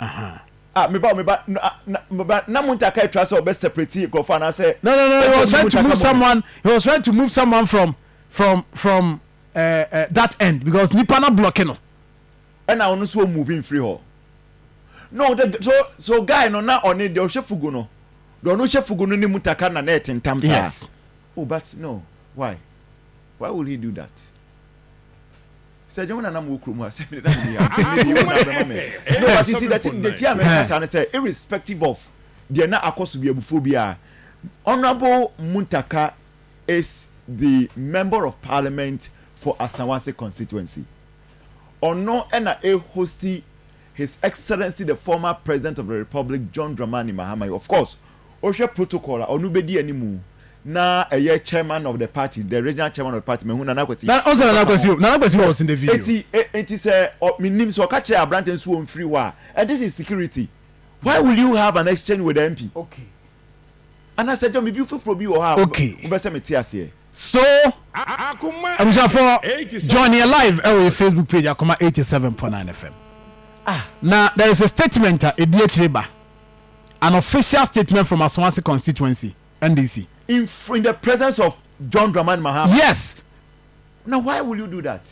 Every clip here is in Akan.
Aha. Ah me ba o me ba no ah na me ba na Munta ka atwa sɛ ɔbɛ separate nkorɔfo anaa sɛ No no no he was trying to move someone he was trying to move someone from from from eh eh that end because nipa na blocki no. Ɛna ɔno nso o move nfiri hɔ no the so so guy no na ɔne deɛ ɔhyɛ fugu no deɛ ɔno hyɛ fugu no ne Munta ka na na ɛte ntam saa Yes. oh but no why why would he do that. Sɛ dwom na na mowɔ kurom a sɛ mede na menni ha a sɛ nnɛ deɛ yɛwu na abɛma me no but you see the thing nti a meka saa ne sɛ irrespective of deɛ na akɔ so bi abufuo bi a Honourable Muntaka is the member of parliament for Asawase constituency ɔno na ɛhosti his excellency the former president of the republic John Dramani Mahama yi of course Wohwɛ protocol a ɔno bɛdi animu na ɛyɛ chairman of the party, the regional chairman of the party, mahu Nana Kwasi. Na ɔsɛ Nana Kwasi o, Nana Kwasi was in the video. Eti eti sɛ ɔ menim sɛ ɔka kyerɛ abrante nso wɔn firi hɔ a, this is security. Why will you have an exchange with the MP? Okay. Anasɛ dɔ me bi foforɔ bi wɔ hɔ a wobɛ sɛ me te aseɛ. So abusuafoɔ join yɛ live ɛwɔ yɛ Facebook page Akoma 87.9 FM. Ah. Na there is a statement a ɛdi akyire ba. An official statement from Asawase constituency, NDC. In in the presence of John Dramani Mahama. Yes. Na why will you do that?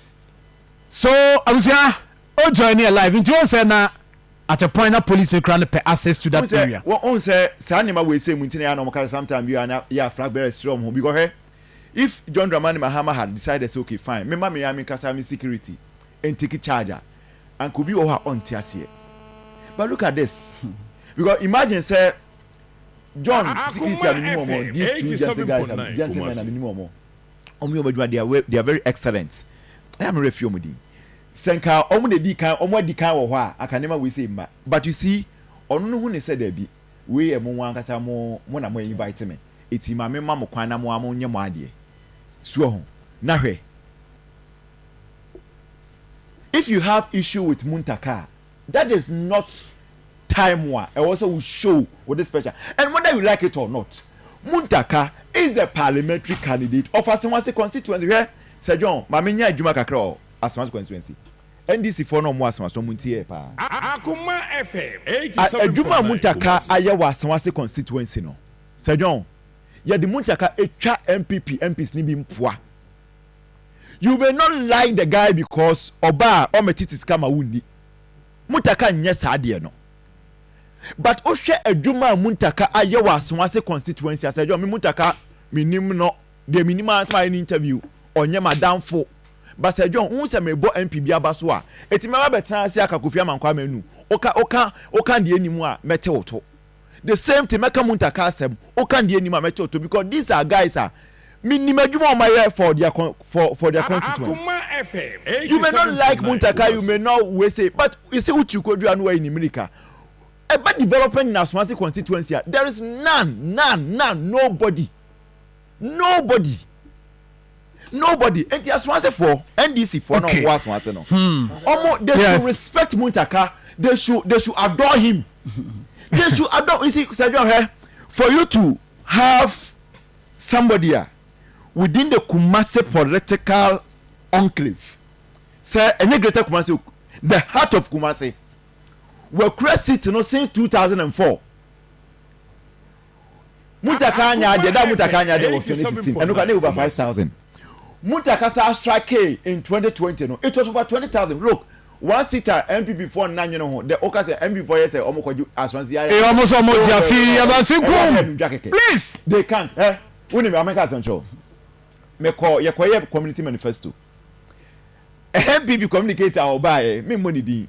So abusua o join yɛ live nti wɔn sɛ na at a point na police kura no pɛ access to that area. Wɔn sɛ saa nneɛma wei sɛ mu nti na yɛ anam kasa sometime bi a na yɛ a flag bearers kyerɛ wɔn ho because hɛ if John Dramani Mahama had decided say okay fine mema me ya me nkasa me security and take charge a. Anka obi wɔ hɔ a ɔnte aseɛ but look at this because imagine sɛ John security a menim wɔn these two gentle guys a gentle men a menim wɔn wɔn yɛ wɔn adwuma they are they are very excellent ɛyɛ a me werɛ fi wɔn din sɛ nka wɔn na edi kan wɔn adi kan wɔ hɔ a anka nneɛma wei sɛ mma but you see ɔno no hu ne sɛ daabi wei yɛ mo wɔn ankasa mo mo na mo invite me eti maame ma mo kwan na mo a mo nyɛ mo adeɛ so ho na hwɛ. If you have issue with Muntaka a, that is not time a ɛwɔ sɛ wo show wo displeasure and whether you like it or not, Muntaka is the parliamentary candidate of Asawase constituency. Hwɛ Sir John, ma me nya adwuma kakra wɔ Asawase constituency. NDC foɔ na wɔn wɔ Asawase, wɔn nti yɛɛ paa. Akoma FM eighty A seven adwuma a point nine Muntaka Kumasi. ayɛ wɔ Asawase constituency no, Sir John, yɛde Muntaka atwa NPP MPs no bi mpoa. you may not like the guy because ɔbaa ɔmɛtete sika ma wonni muntaka nyɛ saa deɛ no but wohwɛ adwuma a muntaka ayɛ wɔ asoase constituency asɛ dwɔ me muntaka menim no deɛ menim a sɛ mayɛ no interview ɔnyɛ madamfo basɛ dwɔ wohu sɛ mebɔ mp bi aba so a ɛtumi aba bɛtena ase aka kofi amankwaa manu woka woka woka deɛ nim a mɛte wo to the same thing mɛka munta ka asɛm woka deɛ nim a mɛkyɛ ɔtɔ because these are guys a menim adwuma wɔn ayɛ for their con for for their constituents you may not like muntaka you may not we say but you see uchi kodua no wayi ne mirika ɛba development in asomase constituency a there is none none none nobody Nobody nobody nti asoasefoɔ NDC foɔ na ɔmo wɔ asoase no ɔmo they should respect Muntaka they should they should adore him they should adore you see sɛdwa hɛ for you to have somebody a within the Kumasi political enclave sɛ ɛnyɛ greater Kumasi the heart of Kumasi wakura seat no since 2004. Muntaka annyɛ adeɛ da a Muntaka annyɛ adeɛ wɔ twenty sixteen ɛno koraa na ɛyɛ over five thousand Muntaka saa strikee in twenty twenty no it was over twenty thousand look one seat a NPP foɔ nna nwene ho dɛ woka sɛ NPP foɔ yɛ sɛ wɔn kɔgye Aswansi ayɛ Ee wɔn so wɔn gye afi Aswansi nko ɛyɛ adeɛ nudwa kɛkɛ please they can't hɛ wo nim maame nka asɛm kyerɛ wo me kɔ yɛ kɔ yɛ community manifesto NPP communicator a ɔbaa yɛ me mmɔ ne din.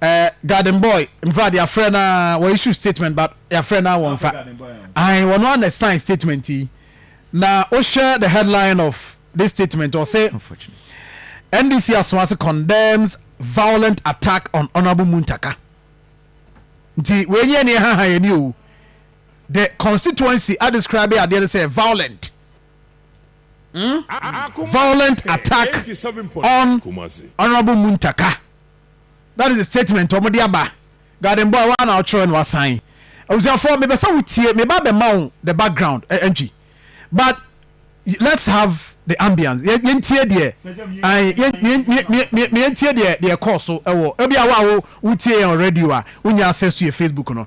Eh, garden boy, mfa de afrɛ na wɔ issue statement but yɛafrɛ na wɔmfa. Ahan wɔn ano na sign statement yi. Na wohwɛ the headline of this statement ɔse NDC Asoase condemns violent attack on Honourable Muntaka. Nti wei nyɛ ne ɛhaha yɛn ni o. The constituency a describe adeɛ no sɛ violent. violent attack on Honourable Muntaka. That is the statement wɔn de aba. Garden boy wa na ɔtwerɛ na wasan. Abusuafoɔ mepɛ sɛ wotie meba abɛma wo the background eh, ɛntwi but let's have the ambience Yɛ- yɛntie deɛ ae, yɛn- yɛn- yɛn- yɛn- yɛn- yɛntie deɛ deɛ ɛkɔɔ so ɛwɔ ebi a wo a wo wotie yɛn wɔ radio a wonya access to yɛ facebook no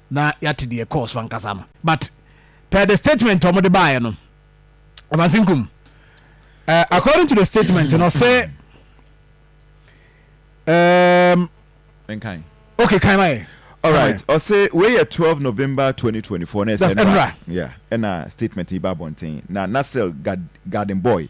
na yɛate deɛ ɛkɔɔ so ankasa no but per the statement ɔmo de baeɛ no ɔbasenkum uh, according to the statement no ɔsɛ um, nkan okay kan ma yɛ all right ɔsɛ wei yɛ twelve november twenty twenty four na ɛsɛ ɛnra ɛna statement yi ba abɔnten na nasir garden boy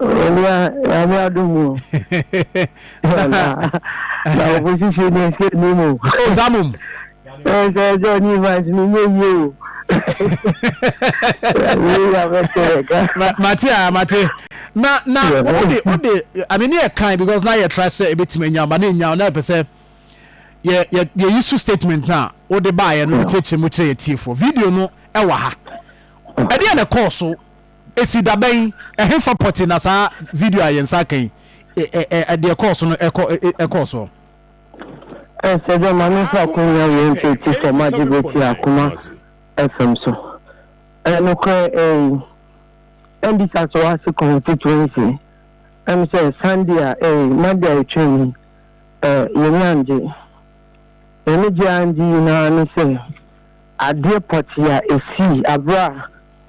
Owura Nyame adom o. Wala na ɔbɔ sisi ne nse ni mu. Ozamum. Ɛsɛ ɛsɛ ni vans ni nye yie o. Mate a mate. Na na ode ode ame ne yɛ kan because na yɛ tra sɛ ebetumi anya ba na enya na pɛ sɛ yɛ yɛ yɛ yi so statement na ode ba yɛ no kyerɛkyerɛ mu kyerɛ yɛ tiefo video no ɛwɔ ha. Ɛdeɛ na ɛkɔɔ so Esi da bɛn? Ɛhefa pɔtee na saa video a yɛn nsa aka yi, deɛ ɛkɔɔ so no kɔɔ soɔ? Ɛsɛ dɛ ma memfa akwannya wei nto ti fam agye bere tiaa koma fam so. Ɛyɛ nokorɛ ei? Ɛmmisa sɛ woase constituency ɛm sɛ Sunday a ei, Monday a ɛtwaam yi eh, yɛn ani angye. Yɛn ani gye angye nyinaa ne sɛ adeɛ pɔtee a ɛsii aberɛ a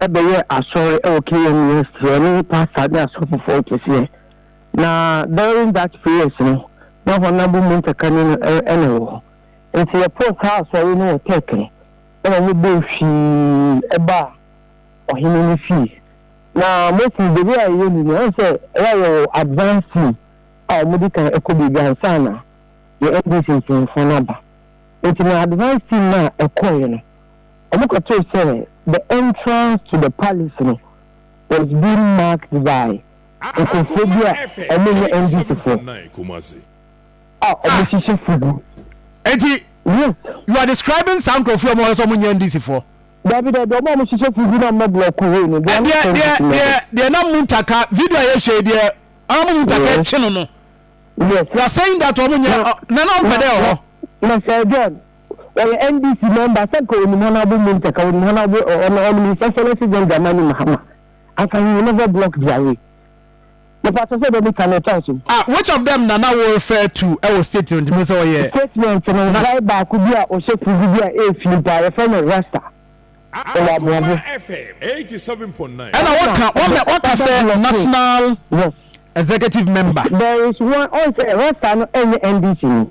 bɛyɛɛ asɔre wɔ Kenya mu yɛ sɛ ɔno nye pastor ne asɔfofoɔ kɛseɛ. Na during that prayers no, na Honourable Munta Kane no na ɛwɔ hɔ. Nti yɛpoo saa asɔre no wɔ Turk no, ɛna ɔmo bɔɔ hwii baa ɔhene ne fie. Na mostly the way a yɛyɛ ni no, wahu sɛ ɛyɛ a yɛwɔ advance team a ɔmo di kan kɔ baabi ansa na yɛn NDC mpanyinfoɔ no aba. Nti na advance team no a ɛkɔeɛ no, Wɔkɔtoo sɛ the entrance to the palace no was being marked by nkurɔfoɔ bi a wɔnyɛ NDCfoɔ a wɔhyehyɛ fugu. Enti Yes. you are describing saa nkurɔfoɔ yi a wɔse wɔnyɛ NDCfoɔ? Dabi dabi, wɔn a wɔhyehyɛ fugu na wɔmmɔ blɔko wei no, they are not NDC members. Deɛ deɛ deɛ na Muntar ka, video a yɛhwɛ yi deɛ ɔno na Muntar ka Yes. akyi no no, Yes. you are saying that wɔnyɛ, Na- ɔ- na na wɔmpɛ dɛ ɛwɔ hɔ. Na Sir John. Ɔyɛ NDC mɛmba sɛ nka onim Honourable Mumtaz a onim Honourable ɛ ɔno ɔnom His Excellency John Dramani Mahama anka he will never block their way. Mepakyɛ sɛ dɛ meka no ɛtɔ asom? Ah which of them na na wo refer to ɛwɔ statement no mu sɛ ɔyɛ Statement no na. guy baako bi a ɔhyɛ fugu bi a ɛyɛ fii paa yɛfrɛ no Rasta ɔwɔ Aboabo. Ɛna waka wama waka sɛ National Executive Member. There is one ɔn sɛ Rasta no ɛnyɛ NDC ni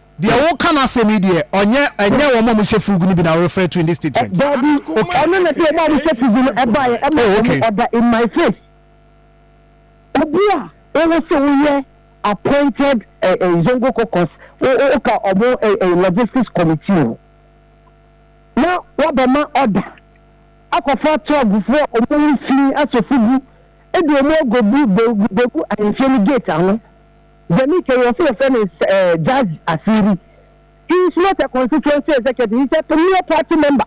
Deɛ wo ka no asɛm yi deɛ ɔnyɛ ɛnyɛ wɔn a wɔn hyɛ fugu no bi na wo refer to in this statement. Daabi ɔno na deɛ wɔn a wɔn hyɛ fugu no ɛbaeɛ ɛma Oh wɔn okay. order in my face. Obi a ɔwɔ sɛ ɔyɛ appointed ɛ ɛ zongo caucus wo wo wo ka wɔn ɛ ɛ logistics committee ho na wabɛma order akɔfa tɔɔgofoɔ a wɔn ho fi asɔ fugu ɛde wɔn akɔbu bɛ bɛgu ahemfie no gate ano. Dɛm etwa yi ɔse wɔfrɛ no Jazzy Asiri. He is not a constituency executive, he is a premier party member.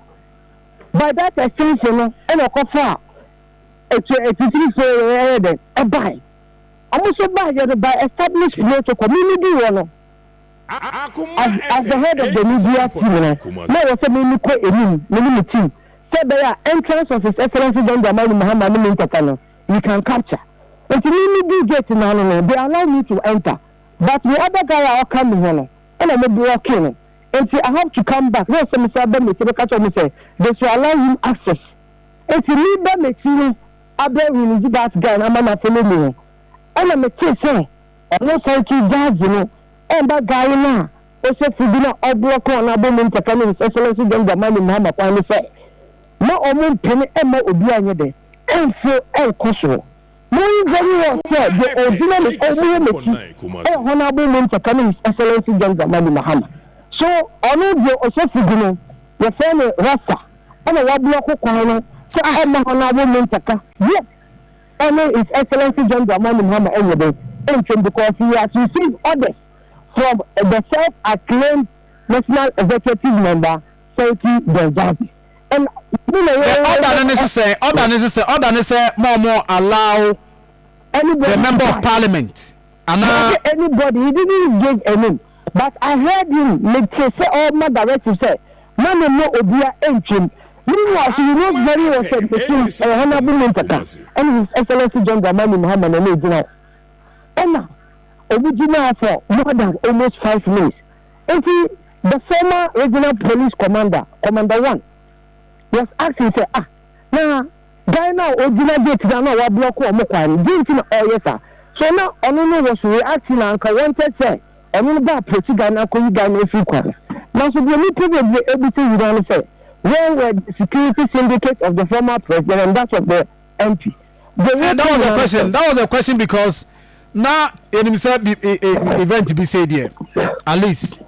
By that extension no ɛna ɔkɔfaa etwa atitirifoo wei ɛyɛ dɛn ɛbae. Ɔmo nso baayɛ no by established protocol. Me me duu hɔ no, as the head of the media team no, na ɛwɔ sɛ me me kɔ anim me ne me team sɛ ɛbɛyɛ a entrance of His Excellency John Dramani Mahama ne me ntɛtɛ no, you can capture nti me me duu gate no ano no they allow me to enter but me other guy a ɔka me ho no ɛna ɔmo blocke no nti I have to come back na ɛsɛ mesan ba m'akyi bɛka kyerɛ ɔmo sɛ they should allow him access nti me ba m'akyi no abɛ release that guy no ama na follow me no ɛna mete sɛ ɔmo san tu judge no ɛmba guy no a ɔhyɛ fugu no a ɔblɔke wɔn abɔ mu ntɛka ne his excellence John Dramani Mahama kwan no sɛ ma ɔmo mpene ɛmma obi anyɛ dɛ. nso nkɔ so. Mary very well sɛ deɛ ɔgyina me ɔmuo m'akyi ɛyɛ Honourable Muntaka ne His Excellency John Dramani Mahama. So ɔno deɛ ɔhyɛ fugu no yɛfrɛ no Rasta ɛna wablɔko kwan no sɛ ɔmma Honourable Muntaka yet ɛne His Excellency John Dramani Mahama ɛnyɛ dɛn ɛntwam because he has received orders from the self acclaimed National Executive Member Sankey John Gyasi. The order no ne sesɛ, order ne sesɛ, order ne sɛ ma ɔmo allow the member of parliament ana. Anybody, he didn't give a name but I heard him, me te sɛ ɔma directive sɛ ma me mma obia ntwam. Meanwhile so he knows very well sɛ mesom ɛyɛ honourable Muntaka ɛne his excellency John Dramani Mahama na ɛna ɛgyina hɔ. Ɛna ɔmo gyinaa for more than almost five minutes. Enti the former regional police commander, Commander One, was asking sɛ, Ah, na guy no a ɔgyina gate no ano a wablɔke wɔn kwan no, deɛ nti na ɔreyɛ saa? So na ɔno no was reacting a anka wanted sɛ ɔno no bɛ approach guy no akɔyi guy no afiri kwan no? Nanso deɛ nnipa bebree bisa nyinaa ne sɛ, Where were the security syndicates of the former president and that of the Enti, bere bi nam so. That was a question. That was a question because na yɛnim sɛ bi e, e, event bi sei deɛ at least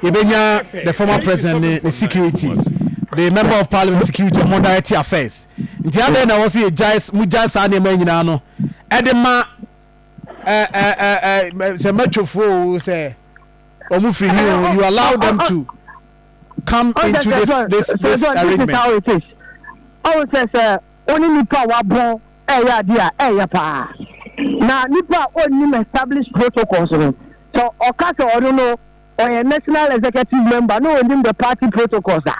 yɛbɛnya the former president ne ne security the member of parliament security ɔmo direct affairs nti adɛn na ɛwɔ sɛ yɛgyae mo gyae saa nneɛma yi nyinaa no ɛde ma ɛ ɛ ɛ ɛ sɛ mɛtwofoɔ o sɛ ɔmo firi hi o you allow them to come into this this this arrangement. ɔwɔ sɛ sɛ. wo ne nnipa a wɔabɔn reyɛ adeɛ a, ɛyɛ paa. Na nipa a ɔnnim established protocols no, sɛ ɔka sɛ ɔno no ɔyɛ national executive member na ɔnnim the party protocols a,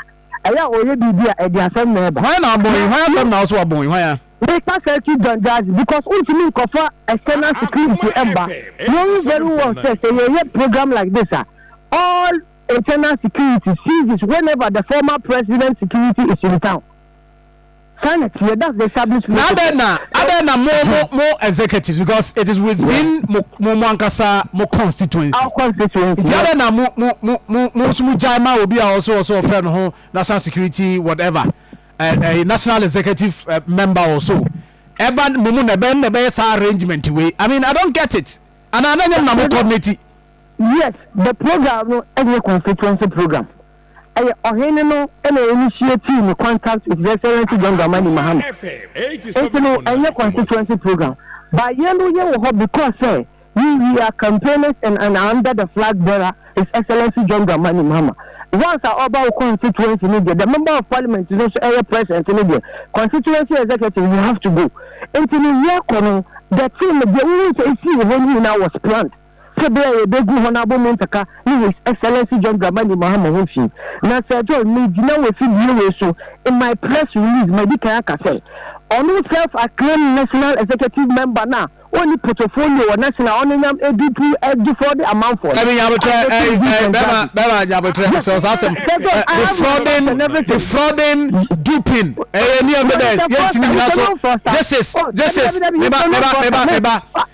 ɛyɛ a ɔyɛ biribi a ɛde asɛm na ɛba. Hwan na abɔn yi? Hwan asɛm na wo sɛ wabɔn yi? Hwan a? Meka Selcuk Janjazi because wontumi nkɔfa external security mma. Knowing very well sɛ sɛ yɛyɛ program like this a, all internal security ceases whenever the former president's security is in town. Na adɛn na adɛn na mo mo mo executives because it is within mo mo mo ankasa mo constituency nti adɛn na mo mo mo mo mo nso mo gyae ma obi a ɔso ɔso ɔfrɛ no ho national security whatever ɛɛ ɛɛ national executive eh, member ɔso ɛba mo mo na ɛbɛn na ɛbɛyɛ saa arrangement wei i mean i don't get it ana ananyam na mo coordinate. Yes, the program no ɛnyɛ constituency program. Ɛyɛ ɔhene no na initiatii ne contact with Excellency John Dramani Mahama. Nti no ɛnyɛ constituency program but yɛn no yɛ wɔ hɔ because sɛ we we are campaigners and and under the flag bearer His Excellency John Dramani Mahama. Once a ɔba wo constituency no deɛ the member of parliament no nso ɛyɛ present no deɛ constituency executive you have to go. Nti no yɛkɔ no the team deɛ wohu sɛ ɛsii wɔ hɔ no nyinaa was planned. Sɛ bere a yebegu hɔn abɔ mu nkaka nye His Excellency John Dramani Mahama ho fi. Na Sir John, mirigyina w'efidie wei so in my press release madi kan aka sɛ, ɔno self acclaimed National Executive Member no a ɔnni potofolio wɔ National ɔno nyam adurpuu defrauding amanfoɔ no, I defend Him and Dramani. Yes, Sir John, I have no remorse and everything. Sɛ mepɛ sɛ mfa ɔsa, oh, dabi, dabi, dabi, mepɛ sɛ mfa ɔsa, me, ah.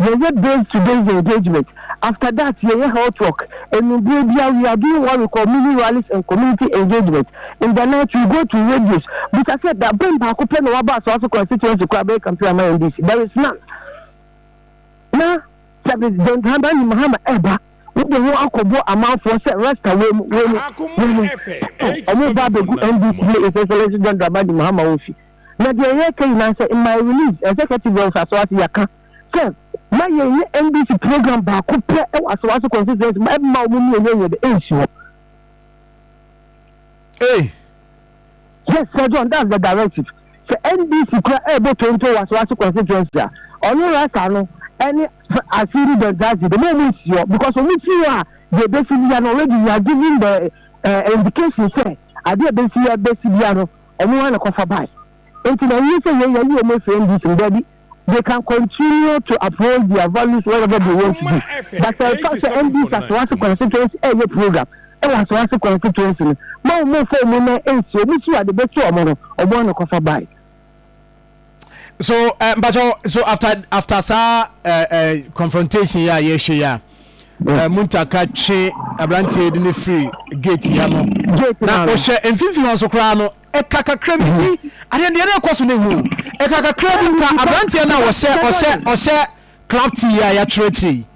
Yɛyɛ base to base engagement, after that yɛyɛ health work, anumberɛ biara we are doing what we call mini rallies and community engagement, in the night we go to radios, bisa sɛ da bɛn baako pɛ na waba Asoaso constituency koraa bɛyɛ campaign ama NDC, there is none. Na sɛ John Dramani Mahama ɛreba, wode ho akɔbɔ amanfoɔ sɛ rasta wei mu, wei mu, wei mu, wɔn ba abɛgu NDC ne His Excellency John Dramani Mahama wɔ fi. na deɛ yɛka nyinaa nsɛ in my release executive wɔ nsaso ase yɛaka sɛ ma yɛn nyɛ NDC program baako pɛ wɔ asawaso constituency ma ɛma wɔn mu yɛnyɛ yɛde ɛnsi hɔ. Hey. Yes, Sir John, that's the directive. Sɛ NDC kura ɛbɔ tonto wɔ Asawase constituency a, ɔno rasa no ɛne Asiri Bentasi de mo ɔmo nsi hɔ because ɔmo si hɔ a deɛ bɛsi bia no already we are giving the uh, indication sɛ adeɛ bɛsi ya bɛsi bia no Ɔno ara na kɔfa bae. Enti na ɛnyɛ sɛ yei yɛayi wɔn afiri NDC mu, dabi, they can continue to uphold their values wherever they want to be. But sɛ ɛfa sɛ NDC Asawase constituency ɛreyɛ program wɔ Asawase constituency no, ma wɔn mmɔ fɔɔmu na ɛnsi, wɔn si a wɔde bɛto wɔn no, wɔn ara na kɔfa bae. so eh, mpakyɛw so after after saa eh, eh, confrontation yɛ a yɛhwɛ yɛ a eh, muntaka twe aberanteɛ de ne firi gate yɛ no na ɔhyɛ mfimfini hɔ nso koraa no ɛka kakra bi si adeɛ deɛ na ɛkɔ so no hu ɛka kakra bi nka aberanteɛ no a ɔhyɛ ɔhyɛ ɔhyɛ club tea yɛ a yɛatwerɛ akyire yi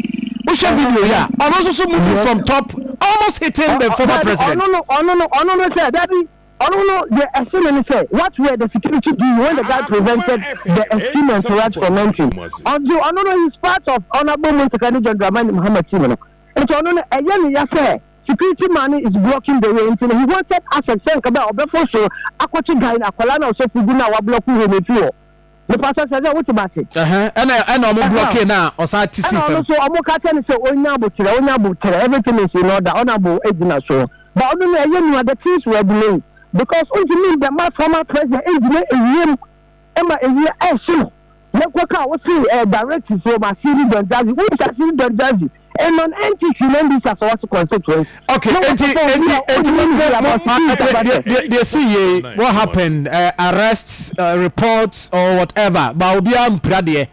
wohwɛ video yɛ a ɔno nso so mu from top almost hitting the former president ɔno no ɔno no ɔno no sɛ dabi Ɔno no, deɛ ɛso no ne sɛ, What were the security doing when the guy prevented the esteemed entourage from entering? Ɔdze ɔno no, he's part of Honourable Muntaka ne John Dramani Mahama team no, nti ɔno no, ɛyɛ no ya sɛ security man no is blocking the way, nti no he wanted access sɛ nka bɛ a ɔbɛforo soro akɔkye guy no, akwadaa no a ɔhyɛ fugu no a wɔablɔko way no efi hɔ. Mepa sɛ sɛ sɛ wote ma se. Ɛhɛn ɛna ɛna ɔmo blɔkee no a ɔsan te si fam. Ɛna ɔno nso ɔmo ka kyɛ no sɛ ɔnya aboterɛ ɔnya aboterɛ everything is in order honourable ɛgyina soɔ but ɔno nea ɛyɛ nua the things were delayed because ɔnti mean the mass formal president ɛngyina ɛwiem ɛma ɛwia ɛhye no yɛnkɔ ka a wosee ɛɛ directives wɔ ma Asiri Don Jazzy wonim sɛ Asiri Don Jazzy ɛnɔ no ɛnti si na mbisa sɛ wɔte constituency. Ok ɛnti ɛnti ɛnti mo mo mo deɛ deɛ deɛ si yie what happened uh, arrest uh, reports or whatever ba obiara mpira deɛ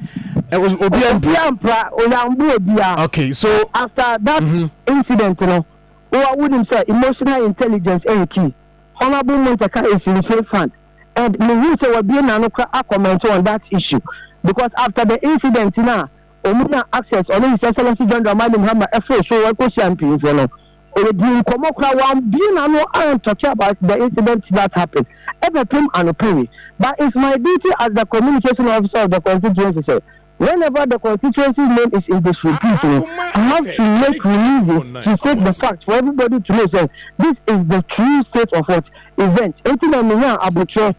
uh, obiara mpira. obiara mpira oyambo obiara. ok so after that mm -hmm. incident no wa wunim sɛ emotional intelligence ɛyɛ key honourable montaka is in safe hand and mehu sɛ wabie n'ano kora akɔmɛnti on that issue because after the incident na. Ɔno na Access ɔne His Excellency John Dramani Mahama ɛforo so wɔn kɔhyia mpanyinfoɔ no. Wɔdii nkɔmmɔ koraa, wɔabue n'ano and talkee about the incident that happened ɛbɛpem anɔpa yi. But it's my duty as the Communication Officer of the Constituency sɛ whenever the Constituency's name is in disrepute no, I have to make releases to state the fact for everybody to know sɛ this is the true state of what? Event. Enti na menyaa aboterɛ.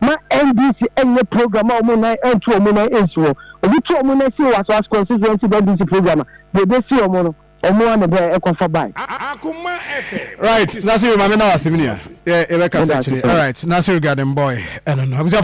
Ma NDC nyɛ program a wɔn nan nto wɔn nan nsi hɔ. Wɔtu wɔn nan si Ɔwaso West Constituency mu NDC program a, deɛ ɛbɛsi wɔn no, wɔn ara na ɛbɛ ɛkɔ fa bae. Right, Nasiru, Maame Mawase, me nua, yɛ yɛbɛkasa akyire. Alright, Nasiru Garden Boy, ɛno no. Abusuafo.